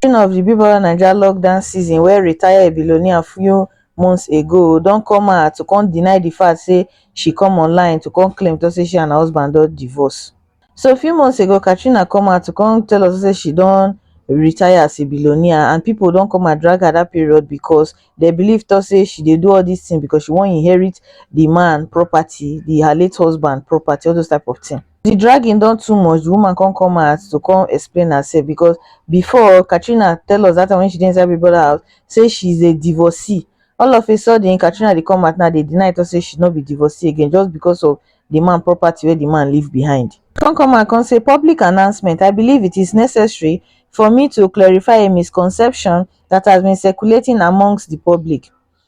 Tori of the Big Brother Naija lockdown season wey retire billionaire few months ago don come out to come deny the fact say she come online to come claim talk say she and her husband don divorce. So few months ago Katrina come out to come tell us say she don retire as a billionaire and people don come and drag her that period because they believe talk say she dey do all this thing because she wan inherit the man property, the her late husband property all those type of thing. the dragging don too much the woman come come out to come explain herself because before Katrina tell us that time when she dey inside Big Brother house say she's a divorcee all of a sudden Katrina dey come out now dey deny talk say she no be divorcee again just because of the man property wey the man leave behind. Come come out come say public announcement I believe it is necessary for me to clarify a misconception that has been circulating amongst the public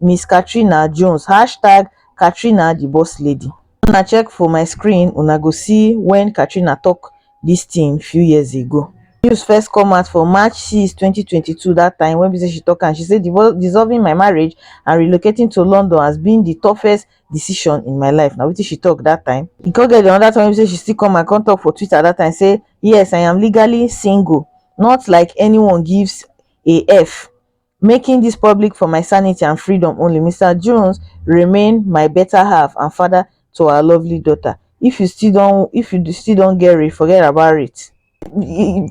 miss katrina jones hashtag katrinadibosslady. una check for my screen una go see wen katrina tok dis tin few years ago. news first come out for march six twenty twenty two dat time wen be say she tok am she say dissolving my marriage and relocating to london has been di toughest decision in my life na wetin she tok dat time e come get anoda time wey be say she still come and come tok for twitter dat time say yes i am legally single not like anyone gives a f making dis public for my sanity and freedom only mr jones remain my beta half and father to our lovely daughter if you still don if you still don get re forget about it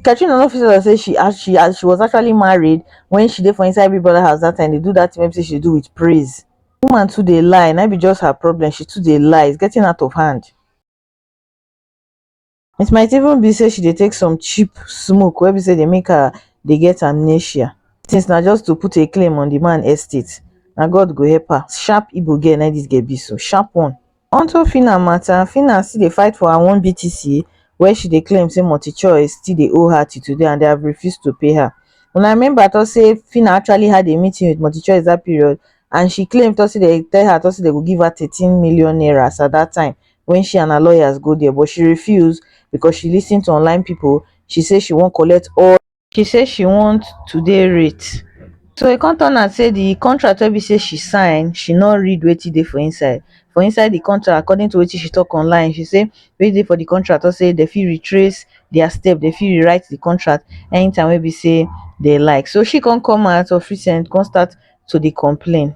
katrina no fit tell say she as she as she was actually married when she dey for inside big brother house that time dey do that thing wey be say she dey do with praise woman too dey lie na be just her problem she too dey lie it's getting out of hand it might even be say she dey take some cheap smoke wey be say dey make her dey get amnesia things na just to put a claim on the man estate na god go help her sharp igbo girl na this girl be so sharp one onto phyna matter phyna still dey fight for her one btc wey she dey claim say multichoice still dey owe her till today and they have refused to pay her una remember talk say phyna actually had a meeting with multichoice that period and she claim talk say they tell her talk say they go give her thirteen million naira as at that time when she and her lawyers go there but she refuse because she listen to online people she say she wan collect all she say she want to dey rate so e come turn out say the contract wey be say she sign she no read wetin dey for inside for inside the contract according to wetin she talk online she say wetin dey for the contract talk say dem fit retrace their step dem fit rewrite the contract anytime wey be say dem like so she come come out of recent come start to dey complain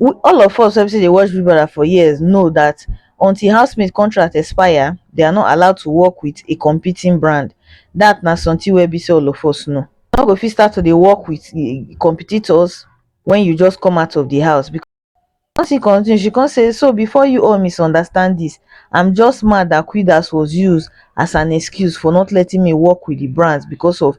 All of us wey be say dey watch Big Brother for years know that until housemate contract expire, they are not allowed to work with a competing brand. That na something wey be say all of us know. You no go fit start to dey work with competitors when you just come out of the house because She come still continue, she come say, so before you all misunderstand this, I'm just mad that Quiddas was used as an excuse for not letting me work with the brands because of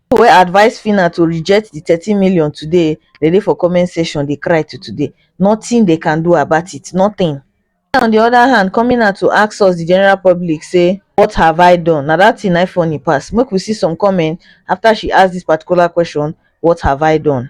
people wey advice phyna to reject the thirteen million today dem dey for comment section dey cry till today nothing they can do about it nothing phyna on the other hand coming out to ask us the general public say what have i done na that thing na him funny pass make we see some comment after she ask this particular question what have i done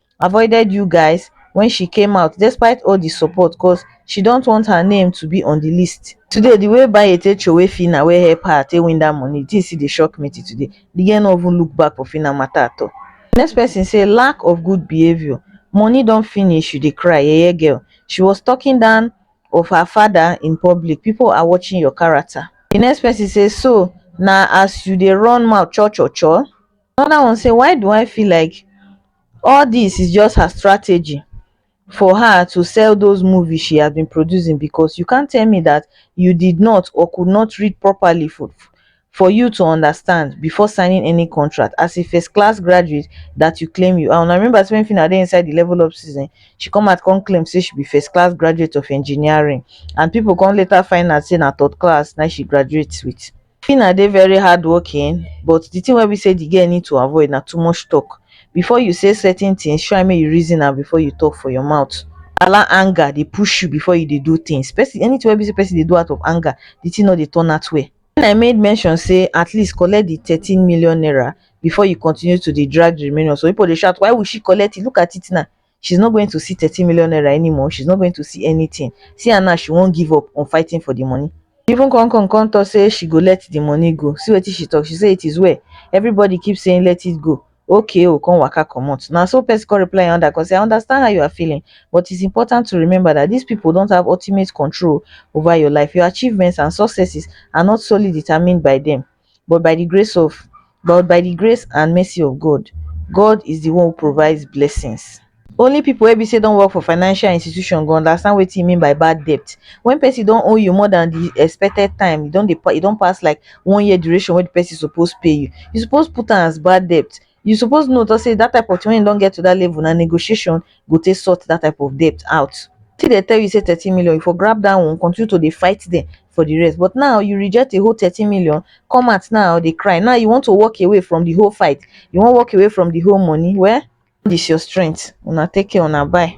avoided you guys wen she came out despite all di support cos she dont want her name to be on di list today di way bae take throway phyna wey help her take win dat money di thing still dey shock me till today di girl no even look back for phyna matter at all next person say lack of good behaviour money don finish you dey cry yeye girl she was talking down of her father in public people are watching your character di next person say so na as you dey run mouth cho cho cho Another one say, why do I feel like all this is just her strategy for her to sell those movies she has been producing because you can't tell me that you did not or could not read properly for, for you to understand before signing any contract as a first class graduate that you claim you are. And I remember when Fina dey inside the level up season, she come out come claim say she be first class graduate of engineering and people come later find out say na third class now she graduates with. Phyna dey very hardworking but the thing wey be say the girl need to avoid na too much talk. Before you say certain things, try make you reason am before you talk for your mouth. Allow anger dey push you before you dey do things. Person, anything wey be say person dey do out of anger, the thing no dey turn out well. When I made mention say at least collect the thirteen million naira before you continue to dey drag the remaining, some people dey shout why will she collect it, look at it now, she's not going to see 30 million naira anymore she's not going to see anything see her now she won't give up on fighting for the money even come come come talk say she go let the money go see wetin she talk she say it is well everybody keep saying let it go okay o come waka comot na so person come reply another come say i understand how you are feeling but it's important to remember that these people don't have ultimate control over your life your achievements and successes are not solely determined by them but by di grace of but by di grace and mercy of God, God is di one who provides blessings. Only pipo wey be say don work for financial institution go understand wetin e mean by bad debt. Wen pesin don owe you more than di expected time, e don dey e don pass like one year duration wey di pesin suppose pay you, you suppose put am as bad debt you suppose know talk say that type of thing when e don get to that level na negotiation go take sort that type of debt out till they tell you say 13 million you for grab that one continue to dey fight them for the rest but now you reject a whole 13 million come out now dey cry now you want to walk away from the whole fight you wan walk away from the whole money well this your strength una take care una bye